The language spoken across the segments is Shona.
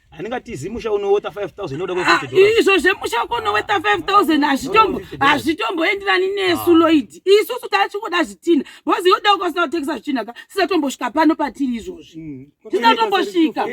handingatizi musha unoweta 5000 inoda kwekuti ah, izvo zvemusha wako unoweta 5000 hazvitombo hazvitomboenderani nesu ah. loid isusu taachingoda zvitina bhozi yoda ukasina kutengesa zvitina ka tisatombosvika pano patiri izvozvi mm. tisatombosvika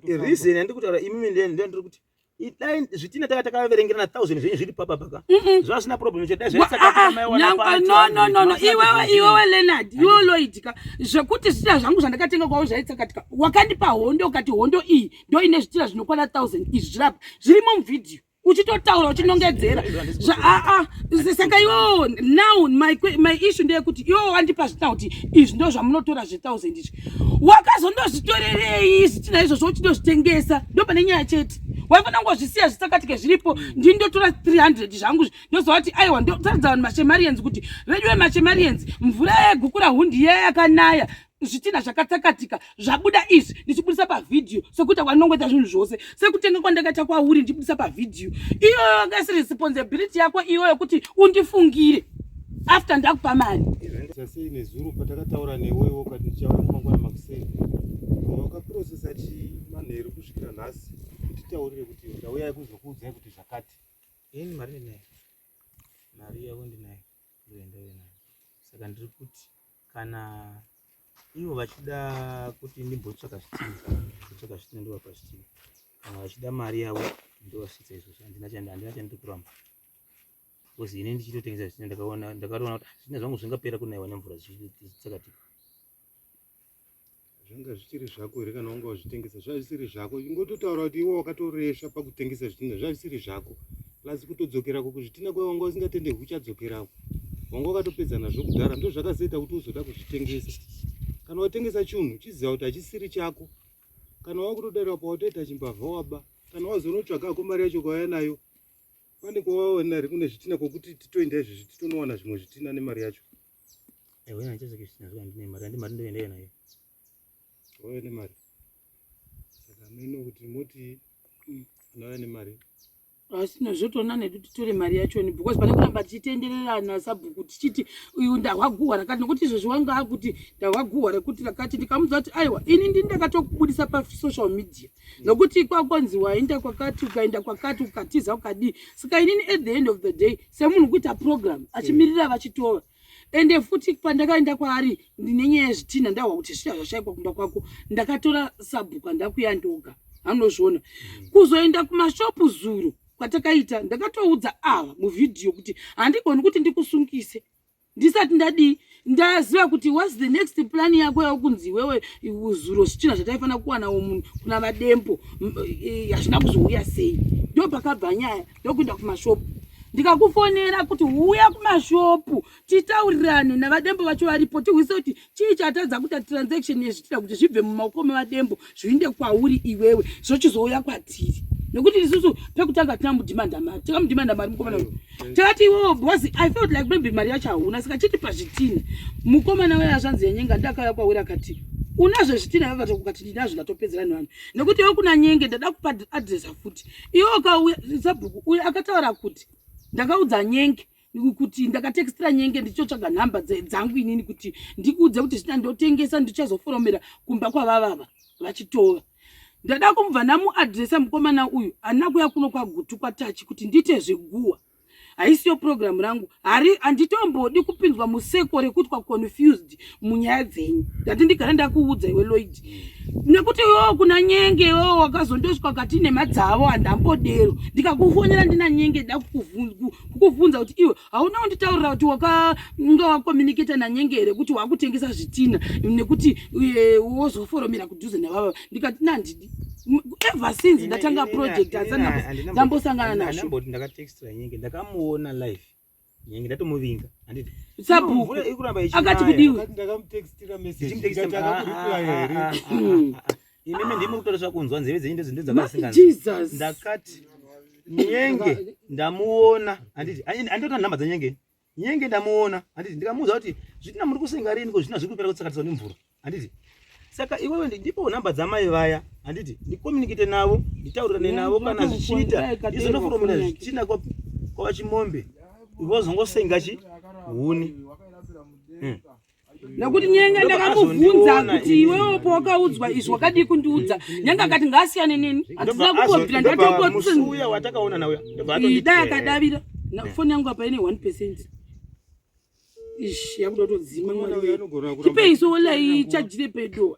reason yandikutaura imimi ndiyo ndiri kuti idai zvitina taka takaverengera na thousand zvenyu zviri papa paka zvazvina problem chedai zvaisakati ah, mai wana pa no no no iwewe iwewe Leonard you loid zvakatsakatika zvekuti zvitira zvangu zvandakatenga kwavo zvaitsakatika wakandipa hondo ukati hondo iyi ndo ine zvitira zvinokwana thousand izvi zvirapa zvirimo muvhidhiyo uchitotaura uchinongedzera aa saka iwo now my, my issue ndeyekuti iwo wandipa zvitina kuti izvi ndo zvamunotora zvethousand izvi wakazondozvitorerei zvitina izvozvo uchindozvitengesa ndo pane nyaya chete waifanira kungozvisiya zvisakatike zviripo ndini ndotora 300 zvangu ndozovati aiwa ndotaridza vanhu machemarians kuti veduwe machemarians mvura yegukura hundi iya yakanaya zvitina zvakatsakatika zvabuda izvi ndichibudisa pavhidhiyo sekuti wanongoita zvinhu zvose sekutenga kwandakaita kwauri ndichibudisa pavhidhiyo iyoyo kasi responsibility yako iyoyo kuti undifungire after ndakupa mari sasei nezuro patakataura newewo ukati ndichauya mangwana makuseni wakaprocesa chimanheru kusvikira nhasi kutitaurire kuti ndauya yekuzokuudzai kuti zvakati ini mari ndinayo mari yavo ndinayo ndoenda uyo nayo saka ndiri kuti kana ivo vachida kuti ndimbotsvaka zvitinhu kutsvaka zvitinhu ndovapa zvitinhu kana vachida mari yavo ndovasvitsa izvozvo handina chandokuramba because ini ndichitotengesa zvitinhu ndakaona ndakatoona kuti ah, zvitinhu zvangu zvingapera kunaiwa nemvura zvichitsakatika zvanga zvichiri zvako here kana wanga wazvitengesa zvazvisiri zvako ingototaura kuti iwe wakatoresva pakutengesa zvitina zvazvisiri zvako plus kutodzokerako kuzvitina kwaye wanga usingatende kuchadzokerako wanga wakatopedza nazvo kudhara ndo zvakazoita kuti uzoda kuzvitengesa kana watengesa chinhu chiziva kuti hachisiri chako kana wakutodarira pawatoita chimbavha waba kana wazonotsvagako mari yacho kwauya nayo pane kwawaona ri kune zvitina kwokuti titoenda izvezvi titonowana zvimwe zvitina nemari yacho Ewe na chese kishi nazwa ndine mari andi mari ndoenda yena ye. Oye ne mari. Saka meno kuti moti unoya ne mari. Asi no zvotona ne kuti tore mari yacho ni because pane kuramba tichitenderera na sabhuku tichiti uyu ndahwa guwa rakati nokuti izvo zviwanga kuti ndahwa guwa rekuti rakati ndikamudza kuti aiwa ini ndini ndakatokubudisa pa social media. nokuti kwakonzi waenda kwakati ukaenda kwakati ukatiza ukadii saka inini at the end of the day semunhu kuita program achimirira vachitova ende futi pandakaenda kwaari ndine nyaya yezvitinha ndahwa kuti zviya zvashaikwa kumba kwako ndakatora sabhuka ndakuya ndoga anozviona mm. kuzoenda kumashopu zuro kwatakaita ndakatoudza ava muvhidhiyo kuti handigoni kuti ndikusungise ndisati ndadii ndaziva kuti whats the next plan yako yakunzi iwewe zuro zvichina zvataifanira kuwanawo munhu kuna vadempo e, hazvina kuzouya sei ndo pakabva nyaya ndokuenda kumashopu ndikakufonera kuti uya kumashopu titaurirane navadembo vacho varipo tihwise kuti chii chatadza kuita transaction yezvitira kuti zvibve mumaoko mevadembo zviinde kwauri iwewe zvochizouya kwatiri nekuti isusu pekutanga tina mudhimanda mari tika mudhimanda mari mukomana uyu mm. takati iwewo bcause i felt like maybe mari yacho hauna saka chiti pazvitini mukomana waya zvanzi yenyenga ndakauya kwauri akati unazvo zvitina yavata kukati ndinazvo ndatopedzera nevanhu nekuti iwe kuna nyenge ndada kupa adresa futi iwe ukauya sabhuku uyo akataura kuti ndakaudza nyenge kuti ndakatextra nyenge ndichitsvaga nhamba dzangu inini kuti ndikuudze kuti zvina ndotengesa ndichazoforomera kumba kwavavava vachitova ndada kumubva ndamuadresa mukomana uyu handina kuya kuno kwagutu kwatachi kuti ndiite zveguwa haisiyo purogiramu rangu hari handitombodi kupindwa museko rekutwa confused munyaya dzenyu ndati ndigare ndakuudza iwe loid nekuti iwewo kuna nyenge iwewo wakazondosvika kati nemadzavo handambodero ndikakufonera ndina nyenge da kukuvhunza kuti iwe hauna kunditaurira kuti wakanga wakomuniketa nanyenge here kuti wakutengesa zvitina nekuti eh, wozoforomera kudhuze navava ndikati nandidi ever since ndatanga project asana ndambosangana nazvo ndakamuona life Nyange ndatomuvinga. Handiti. Sabhuku. Ikuramba ichi. Akati kudiwe. Akati ndakamutextira message. Ndikati akakuriply here. Ah, ah, ah, Imimi ndimi kutora zvakunzwa nzeve dzenyu ndizvo ndizvo dzakasinganzi. Jesus. Ndakati Nyenge ndamuona. Handiti. Andotora nhamba dza Nyenge. Nyenge ndamuona. Handiti ndikamuudza kuti zvitina muri kusenga rini ko zvitina zviri kupera kutsakatiswa nemvura. handiti saka iwewe ndipowo nhamba dzamai vaya handiti ndikomunikite navo nditaurirane navo kana zvichiita izonofuromira zvichina kwava chimombe vozongosenga chi huni hmm. nekuti nyenga ndakamubvunza kuti iwewo pawakaudzwa izvi wakadii kundiudza nyenga akati ngaasiyane neni handina kukobvira ndatokoiuya watakaona nauya dai akadavira foni yangu apa ine one percent Ish, yakuda kutodzima mwari wee. Tipei sola iyi chajire pedo.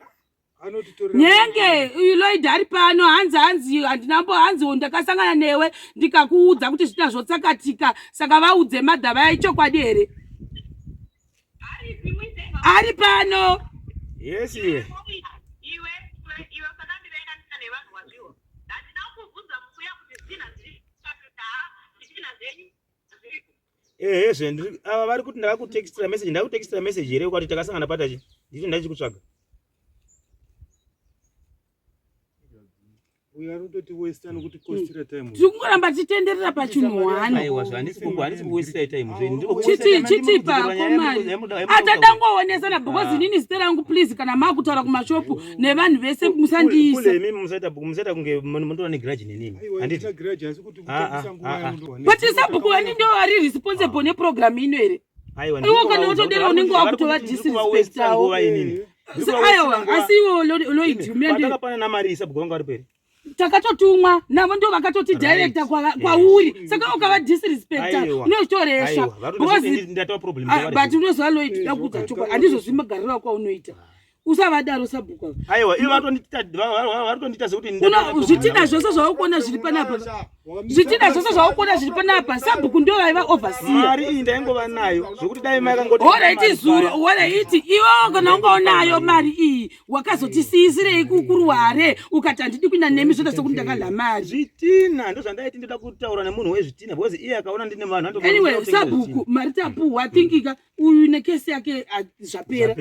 Nyenge uyu Lloyd ari pano hanzi hanzi handina mbo hanzi ndakasangana newe ndikakuudza kuti zvita zvotsakatika saka vaudze madha vaya ichokwadi here? Ari pano. Yes iwe. ehe zve ava vari kuti ndakakutextira message ndakutextira message here ukati takasangana patachi nditi ndachikutsvaga tikungoramba titenderera pachinhuwanachitipakomaatadangowonesana because ah. inini zita rangu please kana maakutaura kumashopu nevanhu vese musandiisa but sabhuku vani ndo vari responsible neprogram ino here iwo kana utodera unenge wakutova disrespect awo aiwa asi iwo loidumenda pana namari sabhuku vanga vari peri takatotumwa navo ndo vakatoti directa kwauri kwa saka ukava disrespecta unozvitoresha ah, but unoziva loid dakuudza chokwadi handizozvimagarira kwaunoita usavadaro sabhuku aiwa ivo vatondita zvekutizvitida zvose zvaukuona zviri panapa zvitida zvose zvaukuona zviri panapa sabhuku ndo vaiva overseamari iyi ndaingova nayo zvekuti dai makangohoraiti zuro horaiti iwo kana ungaunayo mari iyi wakazotisiisirei kukuruware ukati handidi kuinda nemi zvoda sekuti ndakadla mari zvitina ndo zvandaiti ndoda kutaura nemunhu wezvitina because iye akaona ndine vanhu anyway sabhuku mari tapuhwa thinkika uyu nekesi yake ah, zvapera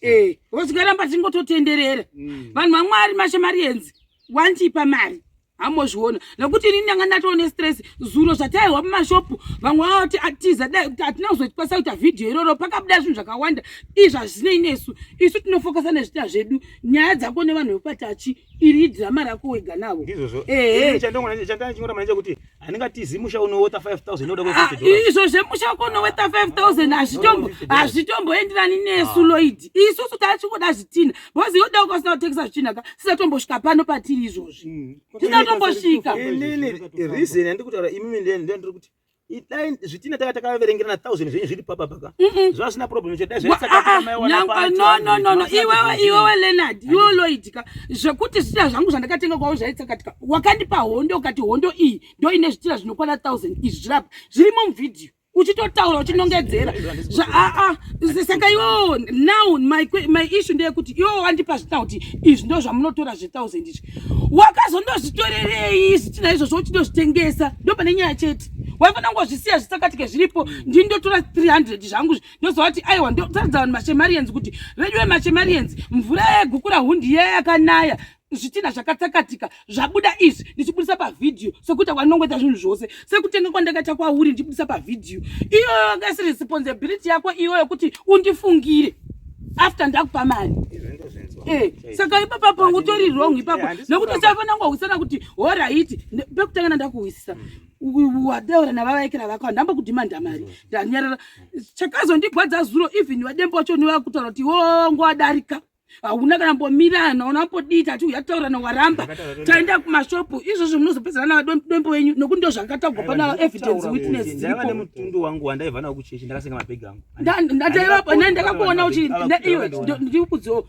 eh, wozoramba tingototenderera mm. vanhu vamwari mashamarienzi wandipa mari hamozviona nokuti ini ndanga ndatoo nestress zuro zvataihwa mumashopu vamwe vavati atiza dai kuti hatina kuzotipasa kuita vhidhiyo iroro pakabuda zvinhu zvakawanda izvi hazvinei nesu isu tinofokasa nezvita zvedu nyaya dzako nevanhu vekupatachi iri idhirama rako wega navo ehe chandangona chandanga chingota manje kuti handingatizi musha unoweta 5000 inoda kwekuti ah, izvo zvemusha wako unoweta 5000 hazvitombo hazvitomboenderani nesu ah. loid isusu tachingoda zvitina bhozi yoda ukasina kutengesa zvitina ka tisatombosvika pano patiri izvozvi hmm. tisatombosvika reason yandiri kutaura imimi ndiri kuti idai zvitina taka takaverengerana thousand zvenyu zviri papa paka zvazvina problem zvedaizvaisakaa ah, iwewe iwewe leonard iwe loid zvakatsakatika zvekuti zvitira zvangu zvandakatenga kwavo zvaitsakatika wakandipa hondo ukati hondo iyi ndo ine zvitira zvinokwana 1000 izvi zvirapa zvirimo muvhidhiyo uchitotaura uchinongedzera aa saka iwo now my, my issue ndeyekuti iwo wandipa zvitina kuti izvi ndo zvamunotora zve1000 izvi wakazondozvitorerei zvitina izvozvo uchindozvitengesa ndo pane nyaya chete waifanira kungozvisiya zvisakatike zviripo ndindotora 300 zvangu ndozovati aiwa ndotaridza vanhu machemarians kuti veduwe machemarians mvura yegukura hundi yaya yakanaya zvitinha zvakatsakatika zvabuda izvi ndichibudisa pavhidhiyo sekuita kwanongoita zvinhu zvose sekutenga kwandakaita kwauri ndichibudisa pavhidhiyo iyoyo kasi responsibility yako iyoyo kuti undifungire after ndakupa mari eh, saka ipapa pangu utori wrong ipapo nekuti usafanira kungohwisana kuti horaiti pekutanga nandakuhwisisa hmm. wataura navavaekera vako handamba kudhimanda mari ndanyarara chakazondigwadza zuro even vadembo vacho nevakutaura kuti wo ngowadarika hauna kana mbomirana unambodii tati uya taurana waramba taenda kumashopu izvozvo munozopedzana navadombo wenyu nokuti ndo zvakatagwa pana evidence witness dziripomutundu wangu wandaiva nawo kuchechi ndakasenga mabhegi angu ndaivapo nai ndakakuona uchi ndaiwe ndikudzo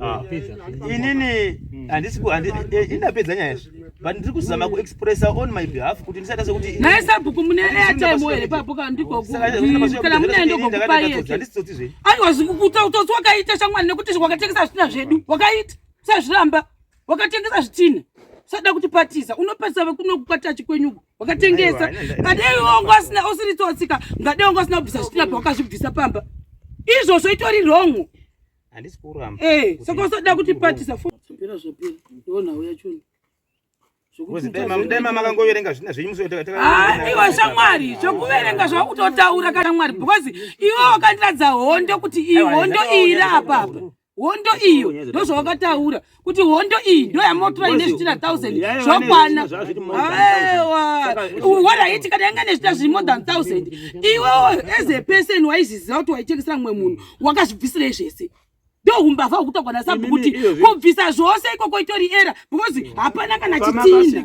Ah. inini handisi eh, indapedza nyaya izvi but ndiri kuzama kuexpressa on my behalf kuti ndisati ase kuti naye sabhuku mune airtime here pabhuku handikokana mune ndokokupaiandisitsoti zve aiwa zvikukuta utsotsi wakaita shamwani nekuti wakatengesa zvitina zvedu wakaita sazviramba wakatengesa zvitina sada kuti patiza unopesa vekunokukwatachi kwenyuko wakatengesa ngadei wangu asina usiri tsotsika ngadei wangu asina kubvisa zvitina pawakazvibvisa pamba izvozvo itori wrongu handisi kuramba eh saka usoda kuti patisa fopera zvapera ndiona uya choni makangoverenga zvina zvenyu musoiwa ah, shamwari zvokuverenga zvakutotaura kana mwari because iwe wakandiradza hondo kuti iyi hondo iyi iri apapa hondo iyo ndozvawakataura kuti hondo iyi ndoyamotora ine zvichira 1000 zvokwana aiwa waraiti kana yanga nezvita zviri more than 1000 iwewo as a person waizviziva kuti waitengesera mumwe munhu wakazvibvisirei zvese ndohumbavha hwekutogwa nasabhu kuti kubvisa zvose ikoko itori era because mm. hapana kana chitina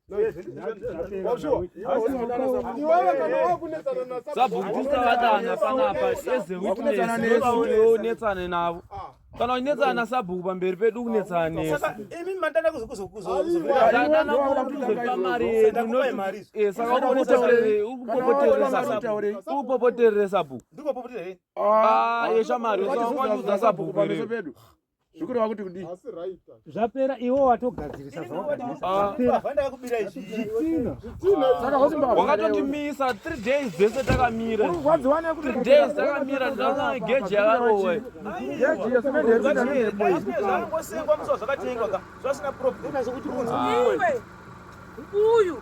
sabhukutisavadana panapa ezeutinetsane navo kana unetsana nasabhuku pamberi pedu kunetsana nesaka ukupopoterere sabhuku yeshamari usawanyaudza sabhuku pamberi pedu zvikureva kuti kudii zvapera iwo watogadzirisa zvawakatondimisa ah. three days dzese takamira three days takamira ndana geji yakarowe uyu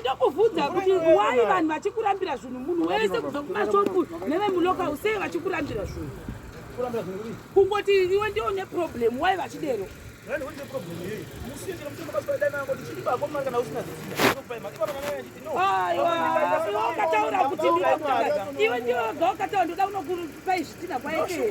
ndokuvhunza kuti why vanhu vachikurambira zvinhu munhu wese kubva kumashopu nevemuloka usei vachikurambira zvinhu kungoti iwe ndiwo neproblem why vachidero ukataura kuti iwe ndiwoga ukataura ndoda unokupai zvitina kwaekee